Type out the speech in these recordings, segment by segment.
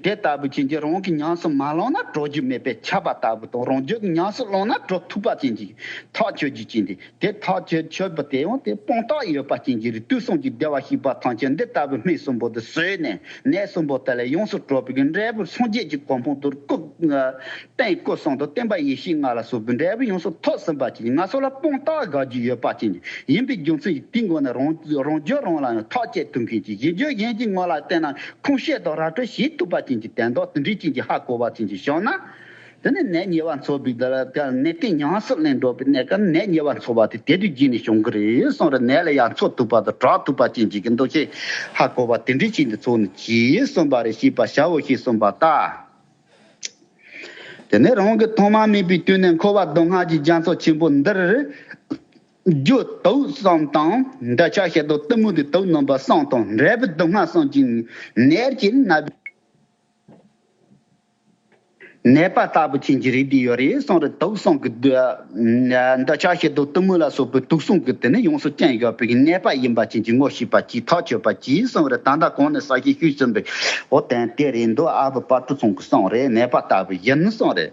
དེ་ལྟ་བུ་ཅན་གྱིས་རང་གི་ཉམས་སུ་མ་བླངས་ན་གྲོལ་རྒྱུ་མེད་པས་ཁྱབ་པ་ལྟ་བུ་དང་རང་རྒྱུད་ཀྱི་ཉམས་སུ་བླངས་ན་གྲོལ་ཐུབ་པ་ཅན་གྱི་ཐག་ཆོད་རྒྱུ་ཅན་ཏེ་དེ་ཐག་ཆོད་ཆོད་པོ་དེ་ཡང་དེ་སྤངས་རྟགས་ཡོད་པ་ཅན་གྱི་རིགས་དུས་གསུམ་གྱི་བདེ་བར་གཤེགས་པ་ཐམས་ཅད་འདི་ལྟ་བུའི་སྨིན་གསུམ་པོ་འདི་ཟོས་ནས་ནད་གསུམ་པོ་དེ་ལས་ཡོངས་སུ་གྲོལ་བའི་འབྲས་བུར་སངས་རྒྱས་ཀྱི་གོ་འཕང་དུར་བཀུག། སྟེང་སྐུ་གསུང་དུ་བསྟན་པ་ཡེ་ཤེས་ལྔ་ལ་སོགས་བུདྡྷའི་བུ་ཡོངས་སུ་ཐོགས་ཟིན་པ་ཅན་ལྔ་སོགས་ལ་སྤུངས་རྟགས་དགག་རྒྱུ་ཡོད་པ་ཅན་ཡིན་པའི་རྒྱུ་མཚན་གྱིས་དེའི་མགོ་ནས་རང་བརྗོད་རང་ལ་ཡང་ཐག་བཅད་ཐུབ་མཁན་གྱི་གཞི་བཅོལ་གཞན་གྱི་ངོ་ལ་བལྟས་ན་ཁུངས་བཤད་དང་ར་སྤྲོད་བྱེད་ཐུབ་པ་ཅན་གྱི་དད་འདོགས་ཟིན་བྲིས་ཅན་གྱི་ཧ་གོ་བ་ཅན་གྱི་ཞོགས་ན། དེ་ནི་ནད་ཉེ་བ་འཚོ་བའི་གནས་སྟེང་ཉམས་སུ་ལེན་འགྲོ་བའི་གནས་སྐབས་ནད་ཉེ་བ་འཚོ་བ་དེ་དེ་དུས་རྒྱུན་ནས་བྱུང་གི་རེད་གསུངས་རེ་ནད་ལ་ཡང་འཚོ་ཐུབ་པ་དང་གྲགས་ཐུབ་པ་ཅན་གྱི་འདུ་ཤེས་ཧ་གོ་བ་དེ་འབྲི་བྱེད་འདི་ཚོ་ནི་གྱིས་གསུངས་པ་རེ་ཤེས་པར་བྱའོ་ཞེས་གསུངས་པ་ལྟར། དེ་ནས་རང་གི་ཐོག་མ་མེད་པའི་དུས་ནས་འཁོར་བ་མདོ་སྔགས་ཀྱི་རྒྱ་མཚོ་ཆེན་པོ་འདིར། རྒྱུ་དུག་གསུམ་དང་འདོད་ཆགས་ཤེལ་རྡོ་གཏི་མུག་གི་དུག་སྣུམ་པ་གསུམ་དང་འབྲས་བུ་སྡུག་བསྔལ་གསུམ་གྱི་ནད་ཀྱིས་མནར་བའི་ནད་པ་ལྟ་བུ་ཅན་གྱི་རིགས་འདི་ཡོད་རེ་གསུངས་རེ་དུག་གསུམ་གྱི་འདི་ཕྱག་བྱེད་དུ་གཏུམ་མོ་ལ་སོགས་པའི་དུག་གསུམ་གྱི་དེ་ནི་ཡོངས་སུ་བརྟན་བཞག་པའི་གནས་པ་ཡིན་པ་བྱིན་གྱིས་བསྔོ་ཤིས་པ་གྱིས་ཐག་ཆོད་པ་གྱིས་གསང་བའི་རི་དང་ད་གོང་ནས་ས་གཞི་བཤུས་ཟིན་པའི་འོ་བརྟན་དེ་རེད་མདོ་ཨ་བུ་དཔའ་ཁྲོ་ཚང་གི་གསང་རེད་ནད་པ་ལྟ་བུ་ཡིན་གསང་རེད།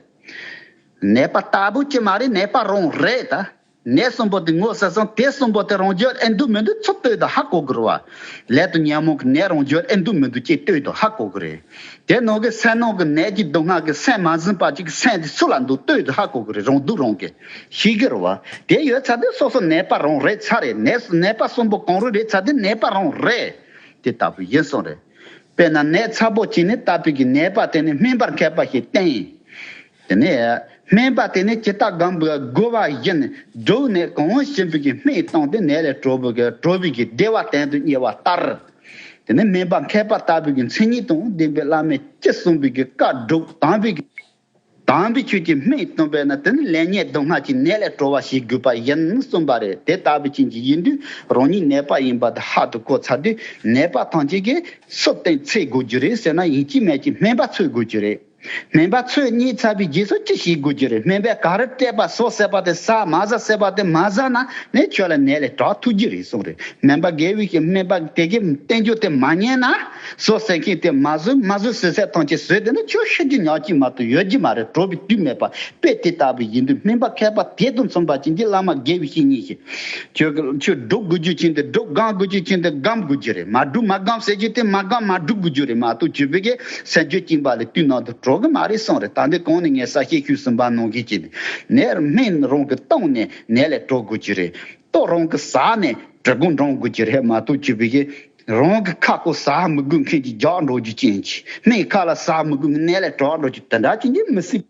ནད་པ་ལྟ་བུ་ཅི་མ་རེད་ནད་པ་རང་རེད་ད། ནད་གསུམ་པོ་དེ་ངོ་ཟེར་སོང་དེ་གསུམ་པོ་དེ་རང་རྒྱུད་ཨེ་འདུག་མི་འདུག་ཚུར་ལྟོས་དང་ཧ་གོ་དགོས་རེད་བ། ལས་དང་ཉོན་མོངས་ཀྱི་ནད་རང་རྒྱུད་ཨེ་འདུག་མི་འདུག་ཅེས་ལྟོས་དང་ཧ་གོ་དགོས་རེད། དེ་ནོར་གི་སེན་ནོར་གི་ནད་ཀྱི་སྡུག་བསྔལ་གི་སེན་མ་ཟིན་པ་ཅིག་གི་སེན་དེ་སུ་ལ་འདུག་ལྟོས་དེ་ཧ་གོ་གི་རེད་རུང་འདུག་རུང་གི། ཤི་གི་རུ་བ། དེ་ཡོད་ཚ་དེ་སོ་སོ་ནད་པ་རུང་རེད་ཚ་རེད་ནད་སོ་ནད་པ་གསུམ་པོ་གང་རུང་རེད་ཚ་དེ་ནད་པ་རུང་རེད། དེ་ལྟ་བུ་ཡིན་སོང་རེད། དཔེར་ན་ནད་ཚ་པོ་གཅིག་ནི་ལྟ་སྤུས་ཀྱི་ནད་པ་དེ་ནི་སྨིན་པར་མཁས་པ་ཞིག་བསྟན། དེ་ནས་སྨན་པ་དེ་ནས་ཇི་ལྟར་སྒམ་པོས་བསྒོ་བ་བཞིན་བསྒྲུབས་ནས་གང་བ་ཞིམ་པོ་ཀྱི་སྨན་བཏང་སྟེ་ནད་ལས་གྲོལ་བུ་གྲོལ་བུ་ཀྱི་བདེ་བ་གཏན་དུ་རྙེད་བ་ལྟར། དེ་ནས་སྨན་པ་མཁས་པ་ལྟ་བུ་ཀྱི་མཚན་ཉིད་དང་ལྡན་པའི་བླ་མས་ཅི་གསུངས་པའི་ཀྱི་བཀའ་བསྒྲུབ་དམ་པའི་ཀྱི་དམ་པའི་ཆོས་ཀྱི་སྨན་བཏུང་བས་ན་དེ་ནི་ལས་ཉེས་སྡུག་བསྔལ་གྱི་ནད་ལས་གྲོལ་བ་ཞིག་དགོས་པ་བཞིན་གསུངས་པ་རེད་དེ་ལྟ་བུའི་རྐྱེན་གྱིས་ཡིན་དུས་རང་ཉིད་ནད་པ་ཡིན་པ་དེ་ཧ་དུ་གོ་ཚར་དུས་ནད་པ་ཐམས་ཅད་ཀྱིས་སུ་བསྟེན་འཚེ་དགོས་རྒྱུ་རེད་ཟེར་ན་ཡིན་གྱི་མེད་ཀྱི་སྨན་པ་འཚོལ་དགོས་རྒྱུ་རེད། སྨན་པ་ཚོས་གཉིད་ཚ་བའི་རྗེས་སུ་ཅི་ཞིག་དགོས་ཀྱི་རེད་སྨན་པས་ག་རེ་སྤྲད་པ་སོགས་བསད་པ་དེ་ཟ་མ་ཟ་བསད་པ་དེ་མ་ཟ་ན་ངས་ཁྱོད་ལ་ནད་ལས་དྲག་ཐུག་གི་རེད་གསུངས་རེད་སྨན་པ་དགེ་བས་སྨན་པ་དེ་གའི་བསྟན་བཅོས་དེ་མ་ཉན་ན་བཟོ་བསད་མཁན་དེ་མ་བཟོས་མ་བཟོས་ཟས་ཟས་ཐོངས་ཀྱི་ཟོས་དེ་ནི་ཁྱོད་ཤི་རྒྱུ་ཉག་གཅིག་མ་གཏོགས་ཡོད་ཀྱི་མ་རེད་བྲོ་བའི་དུས་མེད་པ་དཔེ་དེ་ལྟ་བུ་ཡིན་དུས་སྨན་པ་མཁས་པ་དེ་དང་མཚུངས་པ་ཅན་གྱི་བླ་མ་དགེ་བའི་བཤེས་གཉེན་ཞིག་ཁྱོད་ཁྱོད་སྒྲུབ་དགོས་རྒྱུ་ཅི་འདི་སྒྲུབ་སྒམ་དགོས་རྒྱུ་ཅི་འདི་སྒམ་དགོས་རྒྱུ་རེད་མ་སྒྲུབ་མ་སྒམ་ཟེར་རྒྱུ་དེ་མ་སྒམ་མ་སྒྲུབ་དགོས་རྒྱུ་རེད་མ་གཏོགས་ཁྱོད་བོད་སྐད་གསལ་རྒྱུ་གཅིག་འབའ་ལས་དུས་ནང་དུ་གྲོགས་གི་མ་རེད་སོང་རེད་ད་འདི་གོང་ནས་ངས་གསལ་བཤད་ཤུས་སུ་འབའ་ནང་གི་ཅི་འདི་ནས་སྨན་རང་གི་བཏང་ནས་ནས་ལས་གྲོགས་དགོས་རྒྱུ་རེད་ཏོག་རང་གི་ཟ་ནས་གྲི་གུམ་འདྲང་དགོས་རྒྱུ་རེད་མ་གཏོགས་ཁྱོད་བོད་སྐད་རང་གི་ཁ་སྐོ་ཟ་མི་དགོས་མཁན་གྱི་རྒྱག་འགྲོ་རྒྱུ་ཅི་འདི་སྨན་ཁ་ལ་ཟ་མི་དགོས་ནས་ལས་གྲོགས་འགྲོ་རྒྱུ་དེ་འདྲ་ཅི་འདི་མི་སྲིད།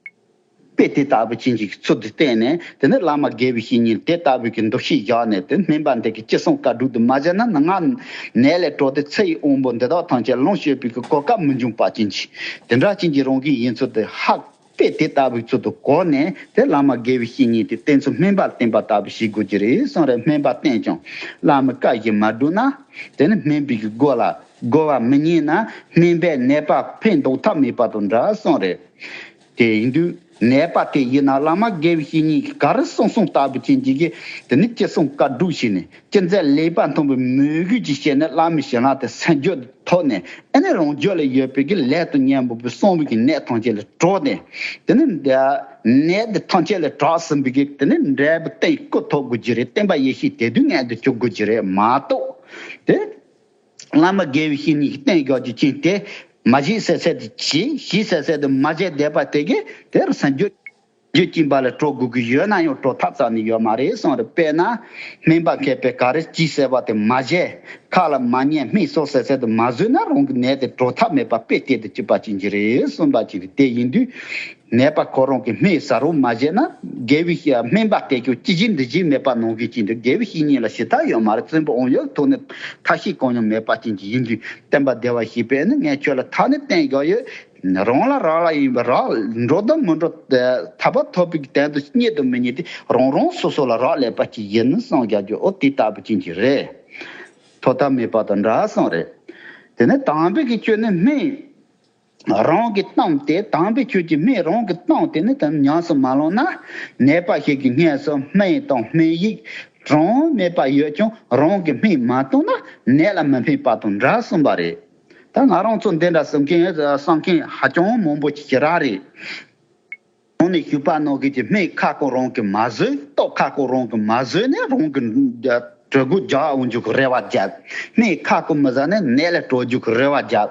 དཔེ་དེ་ལྟ་བུ་ཅན་གྱི་ཚུལ་དུ་བསྟན་ནས་དེ་ནས་བླ་མ་དགེ་བའི་བཤེས་གཉེན་དེ་ལྟ་བུ་གྱི་འདུ་ཤེས་བཞག་ནས་དེ་སྨིན་པ་འདི་གི་ཅི་གསུང་བཀའ་དྲུག་དུ་མ་བཞེས་ན་ནངས་ནད་ལས་གྲོལ་ཏེ་ཚེ་ཡི་དབང་པོ་འདི་དག་ཐམས་ཅད་ལོངས་སྤྱོད་པའི་གོ་སྐབས་མི་འབྱུང་པ་ཅན་གྱིས་དེ་འདྲ་ཅན་གྱི་རང་གི་ཡིན་ཚུལ་དེ་ཧ། དཔེ་དེ་ལྟ་བུའི་ཚུལ་དུ་གོ་ནས་དེ་བླ་མ་དགེ་བའི་བཤེས་གཉེན་དེ་བསྟེན་ཚུལ་སྨིན་པར་བསྟེན་པ་ལྟ་བུ་བྱེད་དགོས་ཀྱི་རེད་གསུངས་རེ་སྨིན་པ་བསྟེན་ཀྱང་བླ་མའི་བཀའ་བཞིན་མ་བསྒྲུབས་ན་དེ་ནི་སྨིན་པའི་སྒོ་ལ་རྒོལ་བ་མི་རྙེད་ན་སྨིན་པའི་ནད་པ་ཕན་འདོགས་ཐབས་མེད་པ་དང་འདྲ་གསུངས་རེ། དེ་ཡིན་དུས་ནད་པ་དེ་ཡིན་ན་བླ་མ་དགེ་བཤེས་གཉིས་ཀྱིས་ག་རེ་གསུང་གསུང་ལྟ་བུ་བྱེད་ཀྱི་གི་དེ་ནི་ཅི་གསུང་བཀའ་སྒྲུབ་བྱས་ནས་ཅི་མཛད་ལེགས་པར་མཐོང་པའི་མོས་གུས་ཀྱིས་བྱས་ནས་བླ་མའི་ཞལ་སྔ་དེ་སེམས་བརྗོད་དུ་ཐོགས་ནས་ཨེ་ནས་རང་ཕྱོགས་ལས་ཡོད་པའི་གི་ལས་དང་གཉེན་པོ་པོའི་གསང་བའི་གི་ནད་ཐམས་ཅད་ལས་དྲོགས་ཏེ་དེ་ནི་ནད་འདི་ཐམས་ཅད་ལས་དྲགས་ཟིན་པའི་གི་དེ་ནི་འབྲས་བུ་སྟེང་སྐུ་ཐོབ་དགོས་ཀྱི་རེད་བསྟན་པ་ཡེ་ཤེས་དད་འདུན་མངལ་དུ་བཅུག་དགོས་ཀྱི་རེད་མ་གཏོགས་དེ། བླ་མ་དགེ་བའི་བཤེས་གཉེན་གྱི་བསྟན་བཅོས་ཀྱི་རྐྱེན་དེས་མ་བཞེས་གསལ་གསལ་དུ་གྱིས་གཞི་གསལ་གསལ་དུ་མ་བཞེས་བསྡད་པ་དེ་གས་དེར་ཟིན། རྒྱུ་རྐྱེན་པ་ལ་སྤྲོ་དགོས་ཀྱི་ཡོད་ན་ཡང་སྤྲོ་ཐབས་ཙམ་ནི་ཡོད་མ་རེད་གསུངས་རེད་དཔེར་ན། སྨན་པ་མཁས་པས་ག་རེ་གྱིས་གསལ་བ་དེ་མ་བཞེས་ཁ་ལ་མ་ཉན་སྨན་སོགས་གསལ་གསལ་དུ་མ་བཟོས་ན་རང་གི་ནད་དེ་སྤྲོ་ཐབས་མེད་པ་དཔེ་གཏད་དུ་བཅུག་པ་བྱིན་གྱིས་རེད་གསུངས་པ་བཞིན་རེད་དེ་ཡིན་དུས། ནད་པ་ཁོ་རང་གི་སྨན་ཟ་རུ་མ་བཞེས་ན་དགེ་བའི་བཤེས་སྨན་པ་བསྟེན་རྒྱུ་ཅི་བཞིན་འདི་བཞིན་མེད་པ་ནང་གི་ཅི་འདི་དགེ་བའི་བཤེས་གཉེན་ལ་ཞི་ཐག་ཡོད་མ་རེད་བཙན་པོ་ཨོང་ཡོད་ཐུག་ནས་ཐབས་ཤེས་གང་ཡང་མེད་པ་ཅན་གྱི་ཡིན་དུས་བསྟན་པ་བདེ་བ་ཞེས་པས་ནི་ངས་ཁྱོད་ལ་ཐ་ནི་བསྟན་དགོས་ཡོད། རང་ལ་རག་ལ་ཡིན་པས་རག་འགྲོ་དང་མི་འགྲོ་ཐར་པ་ཐོབ་པའི་དོན་དུ་རྙེད་དང་མི་རྙེད་དེ་རང་རང་སོ་སོ་ལ་རག་ལས་པ་ཅིག་ཡིན་ནི་སངས་རྒྱ་རྒྱུ་ཨོ་དེ་ལྟ་བུ་ཅན་གྱི་རེད། ཐོག་མཐའ་མེད་པ་དང་འདྲ་སོང་རེད། དེ་ནས་དམ་པའི་གི་ཁྱོད་ནི་སྨན། རང་གི་གཏམ་དེ་དྭངས་པའི་ཁྱོད་ཀྱི་སྨྲས་རང་གི་གཏམ་དེ་ནི་དམ་ཉམས་སུ་མ་ལོང་ན། ནད་པ་ཞིག་གི་སྔས་སུ་སྨན་དང་སྨན་ཡིག་གྲངས་མེད་པ་ཡོད་ཀྱང་རང་གི་སྨན་མ་བཏུང་ན་ནད་ལ་མི་ཕན་པ་དང་འདྲ་གསུངས་པ་རེད། ད་ང་རང་ཚོ་འདི་འདྲ་གསུང་མཁན་གསང་མཁན་ཧ་ཅང་མང་པོ་ཞིག་རག་རེད། གོང་ནས་ཞུས་པ་རྣོ་གས་ཀྱི་སྨད་ཁ་སྐོར་རང་གིས་མ་བཟོས་ལྟོགས་ཁ་སྐོར་རང་གིས་མ་བཟོས་ནས་རང་གི་གྲོད་དགུ་རྒྱག་འོང་རྒྱུ་གི་རེ་བ་བརྒྱབ། སྨད་ཁ་སྐོར་མི་ཟ་ནས་ནད་ལས་གྲོལ་རྒྱུ་གི་རེ་བ་བརྒྱབ།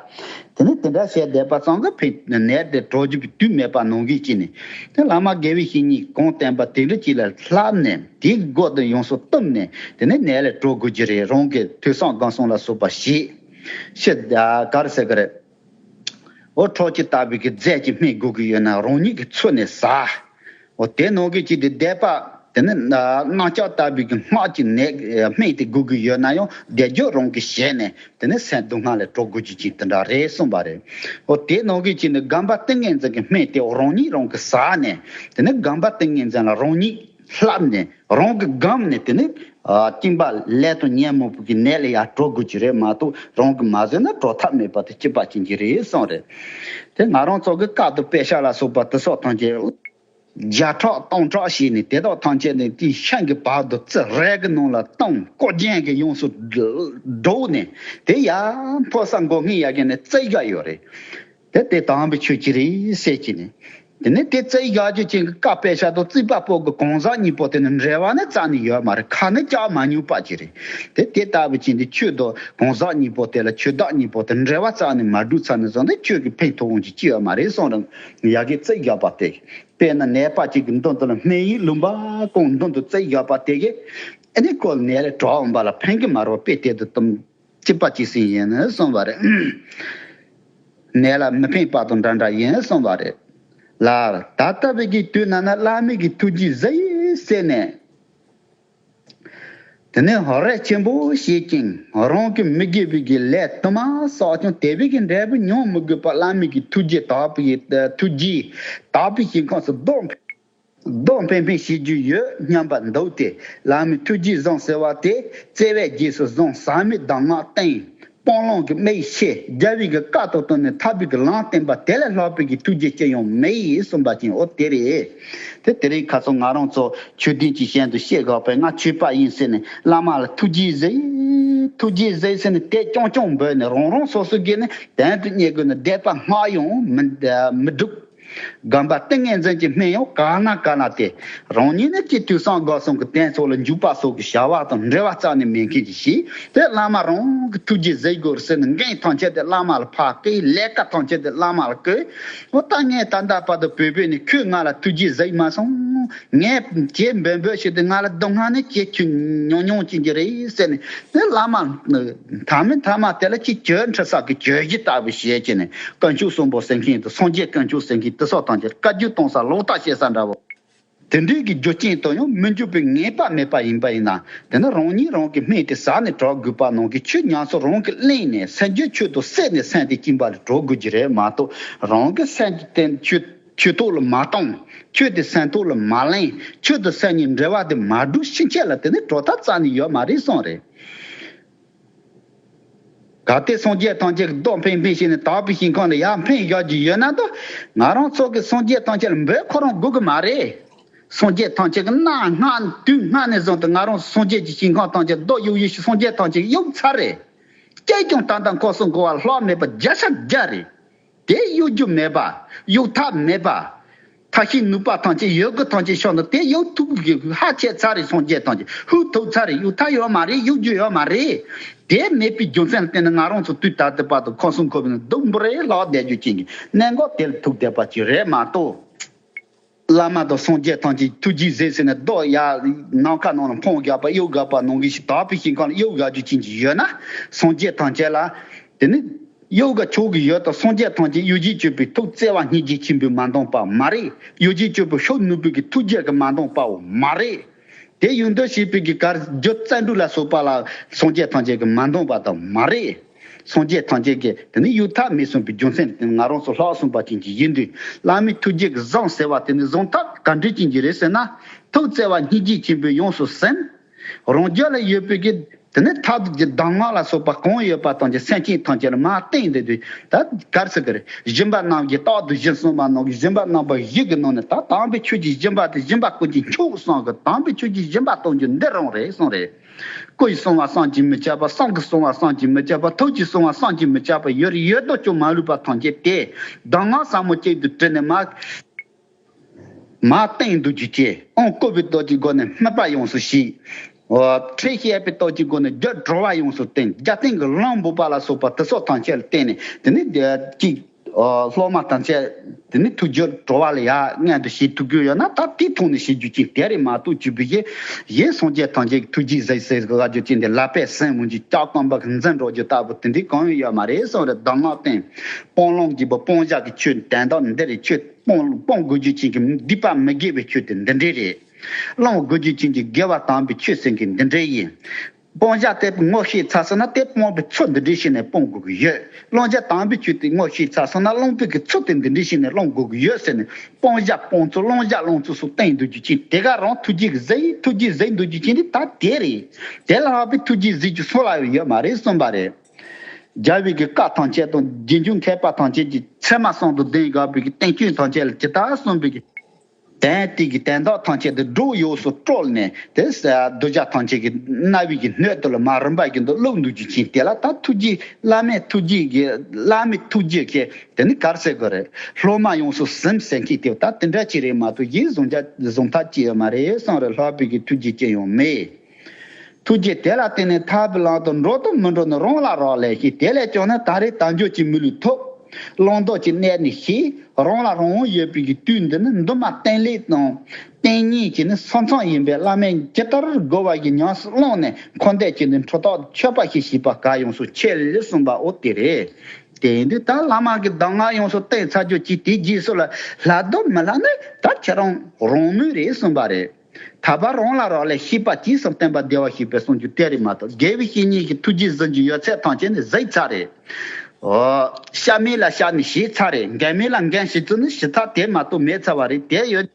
དེ་ནས་དེ་འདྲ་བྱས་བསྡད་པ་ཙང་གི་ཕའི་ནད་དེ་གྲོལ་རྒྱུ་གི་དུས་མེད་པ་ནང་གིས་ཅི་ནས། དེ་བླ་མ་དགེ་བའི་བཤེས་གཉེན་གྱིས་གང་བསྟན་པ་དེ་འདྲ་གཅིག་ལ་བསླབས་ནས་དེའི་སྒོ་དེ་ཡོངས་སུ་བཏུམས་ནས་དེ་ནས་ནད་ལས་གྲོལ་དགོས་ཀྱི་རེད་རང་གིས་དུས་སང་སྒང་སྲུང་ལ་སོགས་པ་བྱས་ཕྱིར་ག་རེ་ཟེར་གི་རེད། འོ་ཁྲོག་ཅི་ལྟ་བུའི་གི་རྫས་ཀྱིས་སྨྲེ་དགོས་ཀྱི་ཡོད་ན་རང་ཉིད་ཀྱིས་འཚོལ་ནས་ཟ། འོ་དེ་ནང་གི་ཅི་དེ་བཟླས་པ། དེ་ནས་རྣག་ལྕགས་ལྟ་བུའི་གི་སྔགས་ཀྱིས་ནད་སྨྲེ་དེ་དགོས་ཀྱི་ཡོད་ན་ཡང་བཟླས་བརྗོད་རང་གིས་བྱས་ནས་དེ་ནས་སེན་སྡུག་སྔགས་ལས་གྲོལ་དགོས་ཀྱི་ཅི་དེ་འདྲ་རེད་གསུངས་པ་རེད། འོ་དེ་ནང་གི་ཅི་ནི་སྒམ་པ་ཏིང་ངེ་འཛིན་གྱི་སྨྲེ་དེ་རང་ཉིད་རང་གིས་ཟ་ནས་དེ་ནས་སྒམ་པ་ཏིང་ངེ་འཛིན་ལ་རང་ཉིད། ལྷགས་ནས་རང་གི་སྒམ་ནས་དེ་ནས་བཏིང་པ་ལས་དོན་གཉེན་མོ་བུ་གི་ནད་ལ་ཡང་དྲོ་དགོས་ཀྱི་རེད་མ་གཏོགས་རང་གིས་མ་བཟོས་ན་དྲོ་ཐབས་མེད་པ་དེ་སྐྱིད་པ་ཅན་གྱི་རེད་གསུངས་རེད་དེ་ང་རང་ཚོ་གི་ཁག་ཏུ་པད་ཤག་ལ་སོགས་པ་དུ་སོག་ཐང་ཆེན་བརྒྱ་ཕྲག་སྟོང་ཕྲག་བྱས་ནས་དེ་དག་ཐང་ཆེན་ནས་དེའི་ཤང་གི་བར་དུ་རྩི་རལ་གི་ནང་ལ་བཏང་བརྐོ་རྒྱན་གྱིས་ཡོངས་སུ་བསྒྲོགས་ནས་དེ་ཡར་འཕོ་ས་མགོ་སྔས་ཡར་གྱེན་ནས་རྩི་བཞག་ཡོད་རེད། དེ་དེ་དང་པོའི་ཆོས་ཀྱི་རིགས་བཤད་ཀྱི་ནི། དེ་ནི་དེ་རྩེ་གཞག་རྒྱུ་ཅན་གྱི་ཀ་པའི་ཤ་དོག་རྩིས་པ་པོ་གི་གང་ཟག་གཉིས་པོ་དེ་ནི་འབྲེལ་བ་ནི་རྩ་ནི་ཡོད་མ་རེད་ཁ་ནི་སྐྱག་མ་ཉུག་པ་གྱི་རེད་དེ་དེ་ལྟ་བུ་ཅན་གྱི་ཆོས་དོག་གང་ཟག་གཉིས་པོ་དེ་ལ་ཆོས་བདག་གཉིས་པོ་དེ་འབྲེལ་བ་རྩ་ནི་མ་གྲུབ་ཚ་ནི་བཟོ་འདི་ཁྱོད་ཀྱི་ཕན་ཐོགས་དབང་གིས་སྐྱེ་བ་མ་རེད་གསུང་རང་ཡག་གི་རྩེ་གཞག་པ་དེ་པས་ན་ནད་པ་ཅིག་གི་མདུན་དུ་ལ་སྨན་ཡིག་ལུང་པ་གང་མདུན་དུ་རྩེ་གཞག་པ་དེ་གས་ཨེ་ནི་ཀོལ་ནད་རེ་དྲག་འོང་པ་ལ་ཕན་གི་མ་རོ་དཔེ་དེ་དུ་བཏུམས། གཅིག་པ་གཅིག་ཟིན་ཡིན་གསུངས་པ་རེད། ནད་ལ་མི་ཕན་དཔག་ཏུ་འདྲ་འདྲ་ཡིན་གསུངས་པ་རེད། ལར་ད་ལྟ་བས་ཀྱི་དུས་ན་ན་བླ་མེད་ཀྱི་ཐུགས་རྗེས་གཟི་ཡིས་བསྲེགས་ནས། དེ་ནས་ཧོར་རས་ཆེན་པོ་བྱེད་ཅིང་རང་གི་མི་དགེ་བས་ཀྱི་ལས་དུ་མ་བསགས་ཀྱང་དེ་བས་ཀྱི་འབྲས་བུ་མྱོང་མི་དགོས་པར་བླ་མེད་ཀྱི་ཐུགས་རྗེས་དག་པའི་ཞིང་ཁམས་སུ་བདོག། རྡོ་འཕེན་འཕེན་བྱེད་རྒྱུ་ཡོད་སྙམ་པ་འདུག་སྟེ་ལག་མི་ཐུགས་རྗེས་བཟང་ཟེར་བ་དེ་བརྩེ་བས་རྗེས་སུ་བཟང་ཟག་མེད་གདམས་ངག་བསྟན། སྤང་བླང་གི་མིག་ཕྱེ་རྒྱལ་བའི་གི་བཀའ་ལྟོ་བཏོན་ནས་ཐར་པའི་གི་ལམ་བསྟན་པ་དེ་ལས་ལྷག་པའི་གི་ཐུགས་རྗེ་སྐྱེ་ཡོང་མེད་གསུངས་པ་བཞིན་འོ་དེ་རེད་དེ་དེ་རིང་ཁ་སང་ང་རང་ཚོ་ཆོས་སྡིངས་ཀྱི་ཞལ་དུ་བཤད་དགག་པས་ང་ཆོས་པ་ཡིན་ཟེར་ནས་བླ་མ་ལ་ཐུགས་རྗེས་གཟིགས། ཐུགས་རྗེས་གཟིགས་ཟེར་ནས་དད་རྐྱང་རྐྱང་འབོད་ནས་རང་རང་སོ་སོའི་གི་ནས་དན་དུ་བསྙད་དགོས་ན་དད་པ་སྔགས་ཡང་མི་སྒྲུབ། སྒམ་པ་ཏིང་ངེ་འཛིན་གྱི་སྨད་གཡོགས་ཀ་ན་ཀ་ན་དེ་རང་ཉིད་ནི་སྤྱི་འཐུས་སངས་དགའ་ཟུང་གི་གདན་ཚོགས་ལ་འཇུག་པ་སོགས་ཀྱི་བྱ་བ་དང་འབྲེལ་བ་རྩ་ནས་མེད་མཁན་གྱི་གཞི་དེ་བླ་མ་རང་གི་ཐུགས་རྗེས་གཟིགས་དགོས་ཟེར་ནས་འགན་ཐང་ཆད་དེ་བླ་མ་ལ་ཕ་གིའི་ལས་ཀ་ཐང་ཆད་དེ་བླ་མ་ལ་བསྐོས། ཨོ་ད་ངས་ད་ལྟ་བར་དུ་བོས་བོས་ནས་ཁྱོས་ང་ལ་ཐུགས་རྗེས་གཟིགས་མ་སོང། ངས་ཇེ་འབོད་འབོད་བྱས་དེ་ང་ལ་སྡུག་བསྔལ་ནི་སྐྱེལ་ཁྱོད་མྱོང་མྱོང་ཀྱིན་གྱི་རེད་ཟེར་ནས་དེ་བླ་མ། མཐའ་མི་མཐའ་མ་དེ་ལ་ཅིག་གྱོད་འཕྲི་སག་གི་གྱོད་གཞི་ལྟ་བུ་ཞེས་བྱས་ནས་བཀའ་འཁྱུག་གསོན་པོ་ཟེར་མཁན་དང་སངས་རྒྱས་བཀའ་འཁྱུག་ཟེར་མཁན་དེ་སོགས་ཐམས་ཅད་བཀའ་བརྒྱུད་གཏོང་ས་ལོག་ལྟ་བྱེད་ས་འདྲ་བོ། དེ་འདྲས་ཀྱི་རྒྱུ་རྐྱེན་དང་ཡང་མི་འགྱུར་པའི་ངེས་པ་མེད་པ་ཡིན་པ་ཡིན་ན་དེ་ནི་རང་ཉིད་རང་གིས་སྨད་དེ་ཟ་ནས་གྲོགས་དགོས་པ་ནང་གི་ཆུ་ཉག་ཚོ་རང་གིས་བརླན་ནས་སེམས་ཀྱི་ཆུ་དང་བསྲེས་ནས་སེམས་དེ་བཅིངས་པ་ལས་གྲོགས་དགོས་རྒྱུ་རེད་མ་གཏོགས་རང་གི་སེམས་ཀྱི་སྟེང་དུ་ཆུ། ཁྱོད་ཐུགས་ལ་མ་གཏོང། ཁྱོད་དེ་སེམས་ཐུགས་ལ་མ་གླེང། ཁྱོད་དང་སེམས་གཉིས་འབྲེལ་བ་དེ་མ་བསྒྲུབས་ཕྱིན་ཆད་ལ་དེ་ནི་གྲོགས་ཐབས་ཙམ་ནི་ཡོད་མ་རེད་གསུངས་རེད། ད་ལྟའི་སངས་རྒྱས་ཐམས་ཅད་ཀྱི་རྟོགས་འཕེན་འཕེན་བྱས་ནས་དག་པའི་ཞིང་ཁོང་ལ་ཡར་འཕེན་བཞག་རྒྱུ་ཡོད་ན་དང། ང་རང་ཚོ་གིས་སངས་རྒྱས་ཐམས་ཅད་ལ་འབོད་ཁོ་རང་དགོས་ཀྱི་མ་རེད། སངས་རྒྱས་ཐམས་ཅད་ཀྱི་གནའ་སྔ་དུས་སྔ་ནས་བཟུང་སྟེ་ང་རང་ཚོ་སངས་རྒྱས་ཀྱི་ཞིང་ཁང་ཐམས་ཅད་རྡོ་གཡུག་གཡུག་ཞིག་སངས་རྒྱས་ཐམས་ཅད་གཡུག་ཚར་རེད། སྐྱེས་ཀྱང་ད་ལྟ་འཁོར་སོང་གོ་བ་ལྷག་མེད་པ་བརྒྱ་ཆ་བརྒྱ་རེད། དེ་གཡོ་སྒྱུ་མེད་པ། གཡུག་ཐབས་མེད་པ། མཐའ་ཤིང་ནུབ་པ་ཐང་ཆེན་ཡོད་དགུ་ཐང་ཆེན་ཕྱོགས་འདི་དེ་གཡོ་ཐུབ་གི་ཧ་ཁྱད་ཚ་རེད་སངས་རྒྱས་ཐང་ཆེན་ཧུད་ཐུབ་ཚ་རེད་གཡུག་ཐབས་ཡོད་མ་རེད་གཡུག་སྒྱུ་ཡོད་མ་རེད། དེ་མེད་པའི་རྒྱུ་མཚན་ལ་བརྟེན་ནས་ང་རང་ཚོ་དུས་ད་ལྟའི་བར་དུ་ཁོ་སུམ་ཁོ་བུ་ནས་སྡུག་འབུར་རེ་ལག་བསྡད་རྒྱུ་རྐྱེན་གྱི་གནད་འགག་དེ་ལ་ཐུག་བསྡད་པ་ཅིག་རེད་མ་གཏོགས། བླ་མ་དང་སངས་རྒྱས་ཐམས་ཅད་ཐུགས་རྗེས་གཟིགས་ཟེར་ནས་རྡོ་གཡའ་ནམ་མཁའ་ནང་ལ་འཕང་གཡོགས་པ་གཡོག་གཡག་པ་ནང་གི་ཞིང་དག་པའི་ཞིང་ཁམས་ལ་གཡོག་གཡག་རྒྱུ་ཅན་གྱི་ཡོད་ན་སངས་རྒྱས་ཐམས་ཅད་ལ། དེ་ནི། གཡོག་ག་མཆོག་གི་ཡོད་དང་སངས་རྒྱས་ཐམས་ཅད་གཡོ་བྱེད་སྤྱོད་པའི་ཐུགས་བརྩེ་བ་སྙིང་རྗེ་ཆེན་པོས་མ་འདངས་པ་མ་རེད་གཡོ་བྱེད་སྤྱོད་པོ་ཤོ་ནུ་བོ་གི་ཐུགས་རྒྱལ་གྱིས་མ་འདངས་པའོ་མ་རེད། དེ་ཡུལ་འདོད་བྱེད་པོ་གི་གར་བརྗོད་བཙན་དྲུག་ལ་སོགས་པ་ལ་སངས་རྒྱས་ཐམས་ཅད་གྱིས་མ་འདངས་པ་དང་མ་རེད། སངས་རྒྱས་ཐམས་ཅད་ཀྱིས་དེ་ནི་གཡུ་ཐག་མི་གསུང་པའི་རྒྱུ་མཚན་དེ་ནི་ང་རང་སུ་ལྷག་གསུངས་པ་ཅན་གྱི་ཡིན་དུས་བླ་མའི་ཐུགས་རྗེ་གི་བཟང་ཟེར་བ་དེ་ནི་གཟུངས་ཐག་ག་འདྲི་ཅན་གྱི་རེད་ཟེར་ན། ཐུགས་བརྩེ་བ་སྙིང་རྗེ་ཆེན་པོས་ཡོངས་སུ་ཟིན། རང་རྒྱལ་ལ་ཡོད་པའི་གི་དེ་ནི་ཐག་རིས་ཀྱི་གདམས་ངག་ལ་སོགས་པ་གང་ཡོད་པ་དང་གྱི་སེམས་ཅན་ཐམས་ཅད་ལ་མ་བསྟན་འདི་དུས་ད་གར་སི་ཀི་རི་གཞོན་པ་རྣམས་ཀྱིས་རྟག་ཏུ་གཞི་གསུམ་པ་ནང་གི་གཞོན་པ་རྣམ་པ་བཞི་གི་ནང་ནས་ད་དམ་པའི་ཆོས་ཀྱི་གཞོན་པ་དེ་གཞོན་པ་ཀུན་གྱི་མཆོག་གསང་གི་དམ་པའི་ཆོས་ཀྱི་གཞོན་པ་གཏོང་རྒྱུ་འདི་རང་རེད་གསུངས་རེད། སྐུ་ཡི་བསྲུང་བ་བསམ་གྱིས་མི་ཁྱབ་པ་བསམ་གྱིས་བསྲུང་བ་བསམ་གྱིས་མི་ཁྱབ་པ་ཐུགས་ཀྱི་བསྲུང་བ་བསམ་གྱིས་མི་ཁྱབ་པ་ཡོད་རེ་ཡོད་དོ་ཅོག་མ་ལུས་པ་ཐམས་ཅད་དེས་གདམས་ངག་ཟབ་མོ་གཅིག་ཏུ་དྲིལ་ནས་མ་སྟེང་བསྡུ་རྒྱུ་སྐྱེ་འོང་བཀོད་པའི་སྟོབས་ཀྱི་སྒོ་ནས་སྨོད་པ་ཡོངས་སུ་ཞི། ཁྲེལ་བཤད་པའི་སྟོབས་ཀྱི་སྒོ་ནས་རྒྱུ་བྲོ་བ་ཡོངས་སུ་བསྟན་རྒྱ་སྟེང་གི་གླང་འབུ་པ་ལ་སོགས་པ་དེ་སོགས་ཐམས་ཅད་ལ་བརྟེན་ནས་དེ་ནི་བདེ་བ་གཅིག། སློབ་མ་དང་བཅས་དེ་ནི་ཐུགས་རྗེས་འགྲོ་བ་ལ་ཡ་མངལ་དུ་ཞེས་ཐུགས་ཁུར་ཡོད་ན་ད་ལྟའི་ཐོག་ནས་ཞེས་བརྗོད་ཅིང་དེ་རིང་མ་གཏོགས་བཅུ་བུ་ཞེས་གཞན་སངས་རྒྱས་ཐམས་ཅད་ཀྱི་ཐུགས་རྗེས་གཟིགས་སའི་སྒོ་ཁ་བརྗོད་ཀྱིན་དེ་ལ་པས་སེམས་མངོན་གྱི་སྐྱག་སྐམ་པ་གང་འཛིན་འགྲོ་རྒྱུ་ལྟ་བུ་དེ་འདྲའི་གང་ཡང་ཡོད་མ་རེད་བསམ་རེ་གདམས་ངག་བསྟན་སྤོང་ལམ་གྱི་བུ་སྤོང་བཞག་གི་ཆོས་དན་དག་འདི་རེད་ཆོས་སྤོང་དགོས་རྒྱུ་ཅན་གྱི་སྡིག་པ་མི་དགེ་བའི་ཆོས་དེ་འདི་འདྲས་རེད་བླང་དགོས་རྒྱུ་ཅན་གྱི་དགེ་བ་དམ་པའི་ཆོས་སེང་གེ་འདི་འདྲས་ཡིན། སྤོང་བྱ་དེ་དངོས་ཤེས་ཚ་སོང་ན་དེ་སྤོང་པའི་ཚུལ་འདི་འདྲའི་ཤེས་ནས་སྤོང་དགོས་ཀྱི་ཡོད། སློང་བྱ་དྭངས་པའི་ཆུ་དེ་དངོས་ཤེས་ཚ་སོང་ན་སློང་དུས་ཀྱི་ཚུལ་དེ་འདི་འདྲའི་ཤེས་ནས་སློང་དགོས་ཀྱི་ཡོད་ཟེར་ནས་སྤོང་བྱ་སྤོང་ཚུལ་སློང་བྱ་སློང་ཚུལ་སོགས་བསྟན་འདུག་རྒྱུ་རྐྱེན་དེ་ག་རང་ཐུགས་རྗེ་གི་གཟི་ཡིན་ཐུགས་རྗེ་གཟིགས་འདུག་རྒྱུ་རྐྱེན་དེ་ད་དེ་རེད། དེ་ལ་ལྷག་པའི་ཐུགས་རྗེ་གཟིགས་རྒྱུ་སུ་ལའང་ཡོད་མ་རེད་གསུངས་པ་རེད། རྒྱལ་བོད་ཀྱི་བཀའ་ཐང་ཆད་དང་རྗེས་འཇུག་མཁས་པ་ཐང་ཆད་ཀྱི་ཚད་མ་གསང་དུ་གདན་དགའ་བོད་ཀྱི་བསྟན་བཅོས་ཐང་ཆད་ལ་ཇི་ལྟར་གསུངས་པའི་དན་ཏིག་གི་དན་རྟགས་ཐམས་ཅད་དུ་སྒྲོ་ཡོས་སུ་དཀྲོལ་ནས་དེ་གདུལ་བྱ་ཐམས་ཅད་ཀྱི་རྣ་བའི་གི་སྣོད་དུ་ལ་མ་རིམ་པ་བཞིན་དུ་བླུག་འདུག་རྒྱུ་བྱིན་དེ་ལ་ད་ཐུགས་རྗེའི་བླ་མའི་ཐུགས་རྗེ་གི་བླ་མའི་ཐུགས་རྗེ་ཁྱེད་དེ་ནི་གར་སེ་གོ་རེད་སློབ་མ་ཡོངས་སུ་སེམས་ཟེར་མཁན་དེ་ད་དེ་འདྲ་གཅིག་རེད་མ་གཏོགས་གཞན་བཟུང་བྱ་བཟུང་ཐབས་ཅི་ཡོད་མ་རེད་སང་རེ་ལྷག་པའི་གི་ཐུགས་རྗེ་ཅི་ཡང་མེད། ཐུགས་རྗེ་དེ་ལ་བརྟེན་ནས་ཐར་བུ་ལང་དུ་འགྲོ་དང་མི་འགྲོ་ནི་རང་ལ་རག་ལས་ཤིང་དེ་ལས་བྱུང་ན་ད་རེས་དལ་འབྱོར་གྱི་མི་ལུས་ཐོབ། བླང་དོར་གྱི་གནད་ནི་ཤེས། རང་ལ་རང་དབང་ཡོད་པའི་གི་དུས་འདི་ནི་མདུན་མ་བརྟན་ལེགས་དང། བརྟན་གཉིས་ཀྱི་ནི་ས་མཚམས་ཡིན་པས་བླ་མས་ཇི་ལྟར་བསྒོ་བ་བཞིན་ཉམས་སུ་བླངས་ནས་འཁོར་འདས་ཀྱི་ནི་འཕྲོ་དག་ཆོད་པ་ཞིག་བྱེད་པ་དགའ་ཡོངས་སུ་ཆེ་ལེགས་གསུངས་པའོ་དེ་རེད། དེ་འདི་ལྟར་བླ་མ་གི་གདམས་ངག་ཡོངས་སུ་བསྟན་ཚར་རྗོད་ཀྱིས་དེའི་རྗེས་སུ་ལ་སླ་དང་མི་སླ་ནི་ད་ཁྱེད་རང་རང་མོས་རེད་གསུངས་པ་རེད། ད་བར་རང་ལ་རག་ལས་ཤེས་པ་སྐྱིད་སོགས་བསྟན་པ་བདེ་བར་གཤེགས་པའི་གསུང་རྒྱུན་གཏེར་རི་མ་གཏོགས་དགེ་བའི་བཤེས་གཉེན་གྱི་ཐུགས་རྗེས་གཟི་བྱིན་ཡོད་ཚད་ཐང་ཆེན་ནི་གཟི་ཚ་རེད། ཤ་མེད་ལ་ཤ་ནི་ཞེས་ཚ་རེད་འགན་མེད་ལ་འགན་ཞེས་ཚུལ་ནི་ཞི་ཚ་དེ་མ་གཏོགས་མེད་ཚ་བ་རེད་དེ་ཡོད།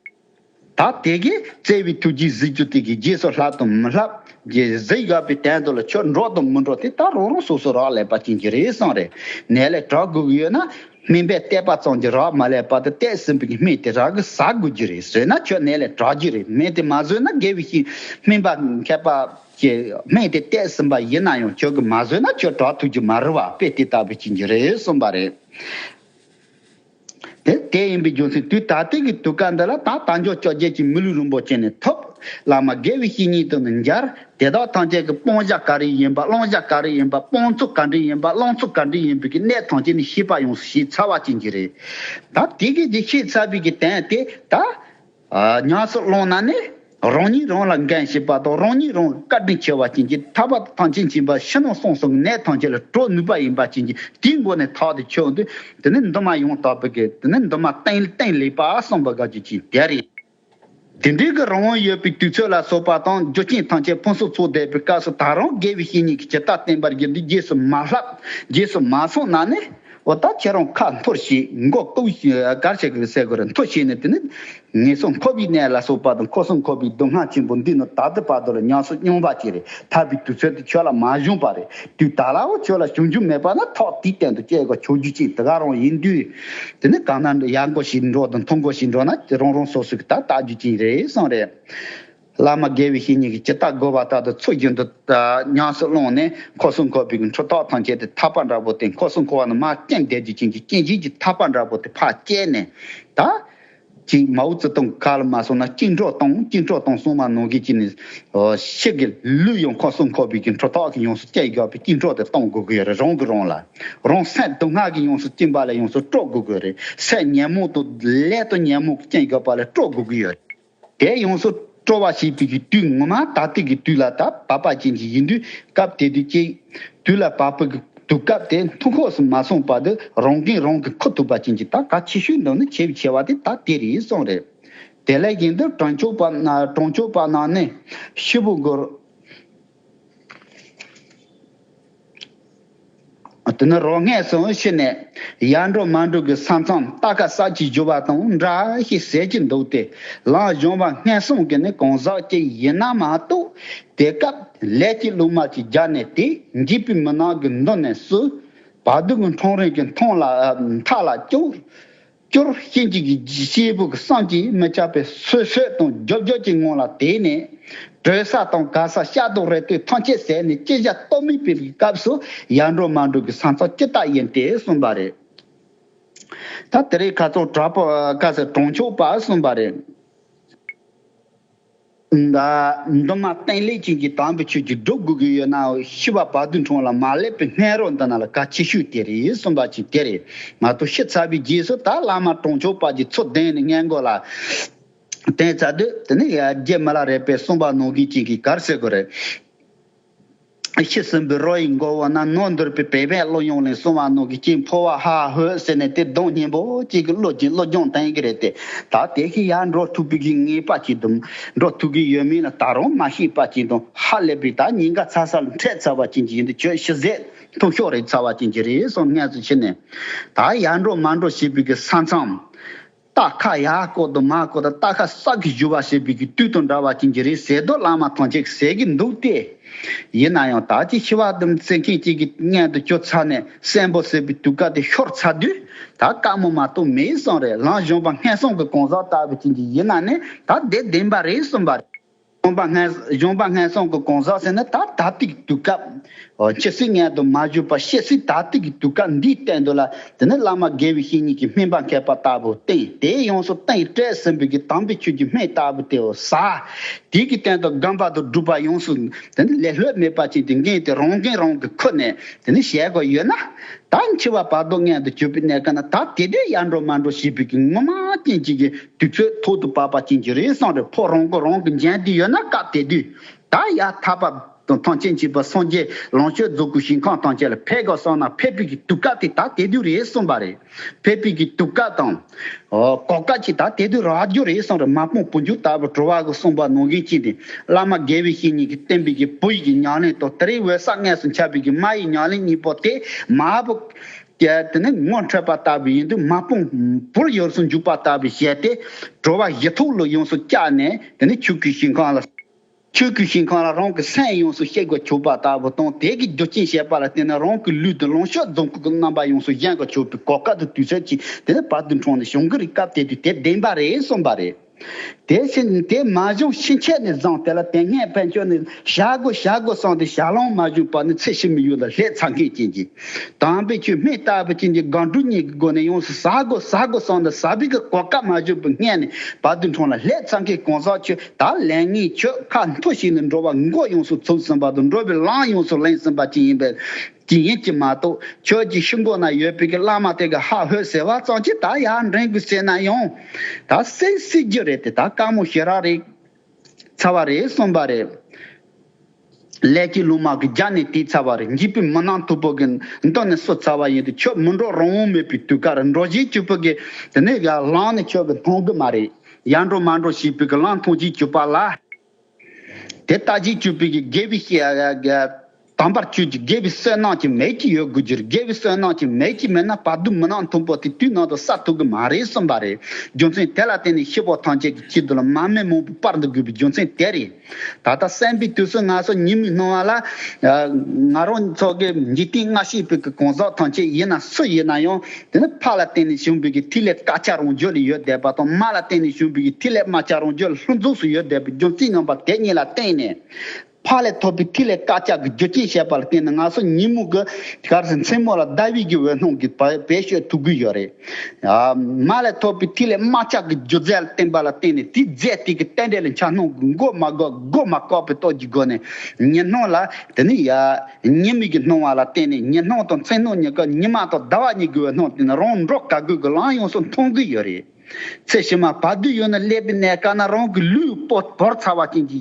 ད་དེ་གས་བཙལ་བའི་ཐུགས་རྗེས་གཟི་བྱུ་དེ་གའི་རྗེས་སུ་ལྷག་དང་མི་ལྷག་གི་གཟི་བཞག་པའི་དན་དུ་ལ་ཆོས་འགྲོ་དང་མི་འགྲོ་དེ་ད་རང་རང་སོ་སོ་རག་ལས་པ་ཅན་གྱི་རེ་ཟུང་རེ་ནས་ལས་གྲགས་དགོས་ཀྱི་ཡོད་ན། སྨན་པས་བལྟས་པ་ཙམ་གྱིས་རག་མ་ལས་པར་དུ་བལྟས་ཟིན་པའི་སྨན་དེ་རང་གིས་ཟ་དགོས་རྒྱུ་རེད་ཟོས་ན་ཁྱོད་ནད་ལས་དྲག་རྒྱུ་རེད་སྨན་དེ་མ་ཟོས་ན་དགེ་བའི་ཤིང་སྨན་པ་མཁས་པ་ཞིག་སྨན་དེ་བལྟས་ཟིན་པ་ཡིན་ན་ཡང་ཁྱོད་ཀྱིས་མ་ཟོས་ན་ཁྱོད་དྲག་ཐུག་རྒྱུ་མ་རེད་བ་དཔེ་དེ་ལྟ་བུ་ཞིག་རྒྱུ་རེད་གསུངས་པ་རེད། དེ་ཡིན་པའི་རྒྱུ་མཚན་དུས་ད་ལྟའི་གི་དུས་སྐབས་འདི་ལ་ད་ད་མགྱོགས་ཅོག་རྒྱལ་གྱི་མི་ལུས་རིན་པོ་ཆེ་ནས་ཐོབ་བླ་མ་དགེ་བའི་བཤེས་གཉེན་དང་ནི་འཇར་དེ་དག་ཐམས་ཅད་ཀྱི་སྤོང་བྱ་ག་རེ་ཡིན་པ་བླང་བྱ་ག་རེ་ཡིན་པ་སྤོང་ཚུལ་ག་འདྲི་ཡིན་པ་བླང་ཚུལ་ག་འདྲི་ཡིན་པའི་གི་གནད་ཐམས་ཅད་ནི་ཤེས་པ་ཡོངས་སུ་ཤེས་ཚར་བ་ཅན་གྱི་རེ་ད་དེ་སྐད་ཅེས་ཤེས་ཚར་བའི་གི་དན་དེ་ད་ཉམས་སུ་བླངས་ན་ནི་རང་ཉིད་རང་ལ་འགན་བཞེས་པ་དང་རང་ཉིད་རང་གི་བཀའ་དྲིན་ཆེ་བ་ཅན་གྱི་ཐར་པ་དང་ཐང་ཆེན་བྱིན་པ་ཕྱི་ནང་གསང་གསུམ་གྱི་གནད་ཐམས་ཅད་ལ་གྲོལ་ནུས་པ་ཡིན་པ་ཅན་གྱི་དེའི་སྒོ་ནས་ཐག་དེ་ཆོད་དེ་ནི་འདུན་མ་ཡང་དག་པའི་གི་དེ་ནི་འདུན་མ་བསྟན་ལེགས་པ་གསུངས་པ་དགག་བྱའི་ཕྱིར་དེ་རེད། དེ་འབྲེལ་གྱི་རང་དབང་ཡོད་པའི་དུས་ཚོད་ལ་སོགས་པ་དང་རྒྱུ་རྐྱེན་ཐམས་ཅད་ཕུན་སུམ་ཚོགས་བསྡད་པའི་སྐབས་སུ་ད་རུང་དགེ་བའི་བཤེས་གཉེན་གྱི་བྱེ་བྲག་བསྟན་པར་གྱུར་འདི་རྗེས་སུ་མ་བསླབ་རྗེས་སུ་མ་སོང་ན་ནི་འོ་ད་ཁྱེད་རང་ཁ་འཐོར་ཞིག་མགོ་བཀུག་ཞིག་གར་ཞིག་གི་སའི་གོ་རེ་འཐོར་ཞིག་ནི་དེ་ནི་ངེས་སོ་འཁོར་བའི་གནས་ལ་སོགས་པ་དང་འཁོར་སོང་འཁོར་བའི་སྡུག་བསྔལ་ཆེན་པོ་འདི་ནི་ད་ལྟའི་བར་དུ་ལ་ཉམས་སུ་མྱོང་བར་བྱས་རེད་ཐར་པའི་དུས་ཚོད་དེ་ཁྱོད་ལ་མ་བྱུང་བ་རེད་དུས་ད་ལའོ་ཁྱོད་ལ་བྱུང་རྒྱུ་མེད་པ་ན་ཐོག་དེའི་སྟེང་དུ་སྐྱེ་དགོས་ཆོག་རྒྱུ་ཅི་དགའ་རང་ཡིན་དུས། དེ་ནི་གང་ན་ཡར་འགོ་ཞིག་འགྲོ་དང་མཐོ་འགོ་ཞིག་འགྲོ་ན་དེ་རང་རང་སོ་སོ་གི་ད་ལྟ་རྒྱུ་ཅན་རེ་ཟུང་རེད། བླ་མ་དགེ་བའི་བཤེས་གཉེན་གྱིས་ཇི་ལྟར་བསྒོ་བ་ལྟར་དུ་ཚུར་རྒྱུན་དུ་ཉམས་སུ་བླངས་ནས་འཁོར་སྲུང་འཁོར་བུའི་འཁྲུལ་རྟོག་ཐམས་ཅད་དེ་ཐར་པ་འདྲ་བོ་དེ་འཁོར་སྲུང་འཁོར་བ་རྣམས་མ་སྐྱེས་འདས་རྒྱུ་ཅན་གྱི་སྐྱེ་འཇིག་གི་ཐར་པ་འདྲ་བོ་དེ་ཕར་བསྐྱལ་ནས་ད་གཅིག་མའོ་ཙེ་ཏུང་བཀའ་ལ་མ་སྲུང་ན་གཅིག་འཕྲོག་གཏོང་གཅིག་འཕྲོག་གཏོང་སྲུང་མ་ནོར་གྱི་གཅིག་ནི་ཕྱེད་ཀྱི་ལུས་ཡོངས་ཁོག་སྲུང་ཁོག་འབུས་ཀྱི་འཕྲོ་ཐོག་གི་ཡོངས་སུ་བཅད་དགོས་པས་གཅིག་འཕྲོག་དེ་གཏོང་དགོས་ཀྱི་ཡོད་རེད་རང་གི་རང་ལ་རང་སད་སྡུག་བསྔལ་གྱི་ཡོངས་སུ་བཅིངས་པ་ལས་ཡོངས་སུ་དཀྲོག་དགོས་ཀྱི་རེད་སད་ཉན་མོ་དུ་ལས་དུ་ཉན་མོ་བཅིངས་དགོས་པ་ལས་དཀྲོག་དགོས་ཀྱི་ཡོད་རེད་དེ་ཡོངས་སུ། སྤྲོ་བ་ཞེས་པའི་གི་དུས་ངོ་མ་ད་ལྟའི་གི་དུས་ལ་ད་བབ་པ་ཅན་གྱི་ཡིན་དུས་སྐབས་དེ་དུས་ཀྱི་དུས་ལ་བབ་པའི་གི་དུས་སྐབས་དེ་མཐུག་ཁོགས་སུ་མ་སོང་བར་དུ་རང་གིས་རང་གི་མཁོ་ཐུབ་པ་ཅན་གྱི་ད་ག་ཆེ་ཤོས་འདོན་ནི་ཆེས་ཆེ་བ་དེ་ད་དེ་རེད་སོང་རེད། དེ་ལས་གཞན་དུ་གྲོང་ཆོག་པ་གྲོང་ཆོག་པ་རྣམས་ནི་ཤི་བོ་དགོས། དེ་ནི་རོ་སྔས་སུ་ཕྱིན་ནས་ཡར་འགྲོ་མར་འགྲོ་གི་ས་མཚམས་རྟ་ཁ་གསར་གྱིས་བསྒྱུར་བ་དང་འདྲ་ཞེས་ཟེར་གྱི་འདུག་དེ་ལའང་གཞུང་བ་སྔས་གསུམ་གྱི་ནི་གང་ཟག་ཅིག་ཡིན་ན་མ་གཏོགས་དེ་སྐབས་ལས་ཀྱི་གླུ་མར་གྱི་རྒྱ་ནས་དེ་འཇིགས་པའི་མུན་ནག་གི་མདུན་ནས་སུ་བ་སྡུག་གི་འཕྲང་རིང་གི་མཐོངས་ལ་མཐའ་ལ་སྐྱོར། སྐྱོར་སྐྱེ་འཇིག་གི་སྐྱེས་བུ་གི་སངས་ཀྱིས་མི་ཆགས་པའི་ཚུལ་ཤོད་དང་རྒྱོབ་རྒྱོབ་ཀྱི་ངང་ལ་དེད་ནས། བྲོས་ས་དང་དགའ་ས་ཤ་དང་རེ་ལྟོས་ཐམས་ཅད་ཟད་ནས་སྐྱེ་བཞག་རྟོགས་མི་ཕེབས་ཀྱི་སྐབས་སུ་ཡར་འགྲོ་མར་འགྲོ་གི་ས་མཚམས་ཅི་ལྟར་ཡིན་ཏེ་གསུངས་པ་རེད། ད་དེ་རིགས་ག་ཚོགས་གྲགས་པ་བཀའ་སྩལ་གྲོང་ཆོག་པར་གསུངས་པ་རེད། མདོ་སྨད་སྟེང་ལས་ཅན་གྱི་དམ་པའི་ཆོས་ཀྱི་སྒྲོ་དགུ་གི་ཡོད་ན་ཤི་བ་བར་དུ་འཁྲུངས་ལ་མ་སླེབས་པའི་སྨན་རོ་འདི་ན་ལ་ཀ་ཆེ་ཤོས་དེ་རེད་གསུངས་པ་ཅིག་དེ་རེད་མ་གཏོགས་ཤི་ཚར་བའི་རྗེས་སུ་ད་བླ་མ་གྲོང་ཆོག་པ་ཀྱི་ཚོགས་གདན་ནས་སྔས་མགོ་ལ་བསྟན་ཚར་དུས་དེ་ནི་ཡར་རྒྱས་མི་ལ་རས་པའི་གསུངས་པ་ནོར་གུས་ཅན་གྱི་གར་སེ་གོ་རེད། ཤི་ཟིན་པའི་རོ་ཡི་མགོ་བོ་ན་རྣོ་འདུར་པའི་བལ་བས་གློ་གཡོགས་ནས་སོང་བ་ནོར་གྱི་སྐྱིན་ཕོ་བ་ཧ་ཧ་ཧོས་ཟེར་ནས་དེ་གདོང་སྙན་པོ་གཅིག་གིས་བློས་གྱིས་བློ་སྦྱོང་བསྟན་གྱི་རེད་དེ། ད་དེ་ཤི་ཡར་འགྲོ་ཐུབ་པའི་གིས་ངེས་པ་གྱིས་འདུག་འགྲོ་ཐུབ་གི་ཡོད་མིན་ལ་ད་རུང་མ་ཤེས་པ་གྱིས་འདུག་ཧ་ལས་པའི་ད་ཉིན་ག་ཚ་སར་འཕྲད་ཚར་བ་ཅན་གྱི་ཡིན་དུས་ཁྱོད་ཤི་ཟད་ཐུག་ཤོག་རེག་ཚར་བ་ཅན་གྱི་རེད་སོང་ངལ་གསོ་བྱས་ནས། ད་ཡར་འགྲོ་མར་འགྲོ་བྱེད་པའི་གི་ས་མཚམས། རྟ་ཁ་ཡ་ཀོ་དུ་མ་ཀོ་དང་རྟ་ཁ་སག་གིས་བཞུ་བ་ཞེས་པའི་གི་བཏུས་དང་འདྲ་བར་གྱིན་གྱི་རིའི་ཟས་རྡོ་བླངས་མ་ཐང་ཅིག་ཟས་ཀྱི་འདུག་སྟེ། ཡིན་ན་ཡང་དག་ཅིག་ཤི་བ་ལྡུམ་རྩེ་མཁན་གཅིག་གི་མངལ་དུ་སྐྱོ་ཚར་ནས་སྲན་པོ་ཟེར་བའི་དུད་ཀ་དེ་ཤོར་ཚར་དུས་ད་དཀའ་མོ་མ་གཏོགས་མེད་བསམ་རེད་ལངས་གཞོན་པ་སྔས་སོང་གི་གང་ཟག་ལྟ་བུ་གྱིན་གྱི་ཡིན་ན་ནི་ད་བདེ་བདེན་པ་རེད་བསམ་པ་རེད། གཞོང་པ་སྔས། གཞོང་པ་སྔས་སོང་གི་གོང་ཟག་ཟེར་ན་ད་ད་ཏིག་གི་དུས་སྐབས། ཇི་སྲིད་མངལ་དུ་མ་བཞུགས་པར་ཤེས་སྲིད་ད་ཏིག་གི་དུས་སྐབས་འདིའི་གཏན་དུ་ལ་དེ་ནི་བླ་མ་དགེ་བའི་བཤེས་གཉེན་གྱི་སྨིན་པ་མཁས་པ་ལྟ་བུ་སྟེ་དེའི་ཡོངས་སུ་བསྟན་ཡིག་བཀྲལ་ཟིན་པའི་གི་དམ་པའི་ཆོས་ཀྱི་སྨན་ལྟ་བུ་དེའོ། ས་དེའི་གི་སྟེང་དུ་སྒམ་པ་དུ་སྒྲུབ་པ་ཡོངས་སུ་དེ་ནི་ལེ་ལྷོད་མེད་པར་བྱིན་ཏེ་འགེངས་ཏེ་རང་འགན་རང་གིས་ཁུར་ནས་དེ་ནི་ཞལ་གོ་ཡོད་ན། ད་འཆི་བ་བར་དོ་མངལ་དུ་བྱུགས་པའི་གནས་སྐབས་ན་ད་དེ་དུས་ཡར་འགྲོ་མར་འགྲོ་ཞེས་པའི་གི་ངོ་མ་རྐྱེན་གཅིག་གིས་དུས་ཚོད་ཐོག་ཏུ་བབས་པ་ཅན་གྱི་རེ་ཟུང་རེ་ཕོག་རང་མགོ་རང་གིས་འཇལ་དུས་ཡོད་ན་སྐབས་དེ་དུས་ད་ཡ་ཐ་བབས་དང་ཐང་ཆེན་བྱིས་པ་སངས་རྒྱས་ལོངས་སྤྱོད་རྫོགས་སྐུ་ཞིང་ཁང་དང་བཅས་ལ་ཕེབས་སྐབས་སོང་ན་ཕེབས་དུས་ཀྱི་དུས་སྐབས་དེ་ད་དེ་དུས་རེད་གསུངས་པ་རེད། ཕེབས་དུས་ཀྱི་དུས་སྐབས་དང། གོ་སྐབས་ཀྱི་ད་དེ་དུས་རག་རྒྱུ་རེད་གསུངས་རེད་མ་དཔོན་བུ་འཇུག་ལྟ་བུ་བྲོ་བ་གི་གསུངས་པ་ནང་གིན་ཅི་འདི་བླ་མ་དགེ་བའི་བཤེས་གཉེན་གྱི་བསྟན་པའི་གི་བུ་ཡི་གི་ཉག་ལན་དང་དེ་རིང་འོད་གསལ་སྔས་སུ་འཆར་བའི་གི་མ་ཡི་ཉག་ལན་གཉིས་པོ་དེ་མ་བུ་གལ་ཏེ་ནི་ངོ་འཕྲོད་པ་ལྟ་བུ་ཡིན་དུས་མ་སྤུངས་བུར་ཡོངས་སུ་འཇུག་པ་ལྟ་བུའི་ཞལ་ཏེ། དྲོ་བ་བཞི་ཐུགས་ལ་ཡོངས་སུ་བཅག་ནས་དེ་ནི་ཆོས་སྐུའི་ཞིང་གང་ལ། ཆོས་སྐུའི་ཞིང་གང་ལ་རང་གི་སེམས་ཡོངས་སུ་གཤེགས་པར་གྱུར་པ་ལྟ་བུ་དང་དེ་གའི་རྒྱུ་རྐྱེན་བཤད་པ་ལ་བརྟེན་ནས་རང་གི་ལུས་དང་ལོངས་སྤྱོད་རྫོང་ཁུག་གི་རྣམ་པ་ཡོངས་སུ་བཞེངས་པར་གྱུར་པའི་གོ་སྐབས་དུ་དུས་ཚོད་ཅིག་དེ་ནི་བར་དུ་འཁྲུངས་ནས་བྱུང་གི་རིགས་སྐབས་དེ་དུས་དེ་བདེན་པ་རེད་གསུངས་པ་རེད། དེ་བཞིན་དེ་མ་བཞུགས་ཕྱིན་ཆད་ནས་བཟུང་དེ་ལ་དེ་སྔའི་བན་ཆོས་ནི་བྱ་དགོས་བྱ་དགོས་གསུངས་ཏེ་བྱ་ལོང་མ་བཞུགས་པར་ནི་ཚེ་ཕྱི་མི་ཡུལ་ལ་ལྷས་ཚང་གིས་བྱིན་གྱིས་དྭངས་པའི་ཆུས་སྨིན་ལྟ་བུ་བྱིན་གྱིས་སྒང་དྲུག་གཉིས་ཀྱི་སྒོ་ནས་ཡོངས་སུ་ཟ་དགོས་ཟ་དགོས་གསུངས་ནས་ཟ་བི་གི་གོ་སྐབས་མ་བཞུགས་པའི་སྔས་ནས་བར་དུ་འཁྲུངས་ལ་ལྷས་ཚང་གིས་གང་ཟག་ཆོས་དག་ལན་ལྔའི་ཆོས་ཁ་མཐོ་ཞིག་ནས་འགྲོ་བ་མགོ་ཡོངས་སུ་ཚུགས་ཟིན་པ་དང་འགྲོ་བའི་ལམ་ཡོངས་སུ་གླེང་ཟིན་པ་ཅིག་ཡིན་པས། ཅིག་ཡིན་གྱི་མ་གཏོགས་ཁྱོད་ཀྱི་ཤུ་འགོ་ན་ཡོད་པའི་གི་བླ་མ་དེ་གི་ཧ་ཧོས་ཟེར་བ་ཙང་ཅི་ད་ཡ་འགྲན་དགོས་ཟེར་ན་ཡང་ད་སེང་སྲིད་རྒྱུ་རེད་དེ་ད་དཀའ་མོ་ཞེ་རག་རེད་ཚ་བ་རེད་གསུངས་པ་རེད། ལས་ཀྱི་ལུང་མ་གི་རྒྱ་ནས་དེ་ཚ་བ་རེད་འཇིགས་པའི་མི་ནང་དུ་བོ་གི་མདུན་ནས་སུ་ཚ་བ་ཡིན་དུ་ཁྱོད་མི་འགྲོ་རང་དབང་མེད་པའི་དུས་ཀ་རུ་འགྲོ་བཞིན་སྐྱུར་པོ་གི་དེ་ནས་གི་ལང་ནས་ཁྱོད་གི་མཐོང་གི་མ་རེད་ཡ་འགྲོ་མ་འགྲོ་ཞེས་པའི་གི་ལང་མཐོང་བཞིན་སྐྱུར་པ་ལ། དེ་ལྟ་ཅི་བཅུ་པའི་གྱི་དགེ་བའི་དམ་པར་སྤྱོད་ཅིག་དགེ་བའི་བསོད་ནམས་ཀྱི་མལ་གྱི་ཡོད་དགོས་ཀྱིར་དགེ་བའི་བསོད་ནམས་ཀྱི་མལ་གྱི་མེད་ན་བར་དུ་མི་ནག་མཐོན་པོ་དེ་དུས་ནང་དུ་ས་ཐུག་གི་མ་རེད་གསུངས་པ་རེད་རྒྱུ་མཚན་དེ་ལ་བརྟེན་ནས་ཤི་བོ་ཐམས་ཅད་ཀྱི་ཁྱི་རྡུལ་མ་སྨན་མང་པོ་སྤར་འདུག་དགོས་པའི་རྒྱུ་མཚན་དེ་རེད་ད་ལྟ་སེམས་པའི་དུས་སུ་ང་ཚོ་ཉིན་མོའི་སྣང་བ་ལ། ང་རང་ཚོ་གི་འཇིག་རྟེན་སྔ་ཕྱིའི་བོད་ཀྱི་གང་ཟག་ཐམས་ཅད་ཡིན་ན་སུ་ཡིན་ན་ཡང། དེ་ནི་ཕ་ལ་བརྟེན་ནས་ཞུགས་འབུལ་གྱི་ཐིག་ལེ་དཀར་ཆ་རུང་བརྗོད་ལས་ཡོལ་བསྡད་པ་དང་མ་ལ་བརྟེན་ནས་ཞུགས་འབུལ་གྱི་ཐིག་ལེ་དམར་ཆ་རུང་བརྗོད་ལྷུན་རྫོགས་སུ་ཡོལ་བསྡད་པའི་རྒྱུ་མཚན་ངམ་པ་དེ་གཉིས་ལ་བརྟེན་ནས། ཕ་ལས་ཐོབ་པའི་ཐིག་ལེ་དཀར་ཆ་གི་རྒྱུ་རྐྱེན་བཤད་པ་ལ་བརྟེན་ནས་ང་ཚོ་ཉིན་མོ་གི་སྐབས་སུ་མཚན་མོ་ལ་ཟླ་དབྱིག་གི་འོད་སྣང་གིས་བེད་སྤྱོད་ཐུབ་གི་ཡོད་རེད། མ་ལས་ཐོབ་པའི་ཐིག་ལེ་དམར་ཆ་གི་རྒྱུ་རྫས་ལ་བརྟེན་པ་ལ་བརྟེན་ནས་དེའི་རྫས་དེ་གི་རྟེན་འབྲེལ་ལ་འཆར་སྣང་གི་མགོ་མ་འགག་མགོ་མ་བཀག་པའི་སྟོབས་ཀྱིས་སྒོ་ནས་ཉི་སྣང་ལ་དེ་ནི་ཡལ། ཉེས་དམིགས་ཀྱི་སྣང་བ་ལ་བརྟེན་ནས་ཉི་སྣང་དང་མཚན་སྣང་གཉིས་ཀ་ཉི་མ་དང་ཟླ་བ་གཉིས་དགུ་བའི་སྣང་བརྟེན་ནས་རང་འགྲོ་ག་དགུས་ཀྱི་ལམ་ཡོངས་སུ་མཐོང་གི་ཡོད་རེད། ཚེ་ཕྱི་མ་བར་དུས་ཡོད་ན་སླད་པའི་གནས་སྐབས་ན་རང་གི་ལུས་པོ་བོར་ཚར་བ་ཅན་གྱི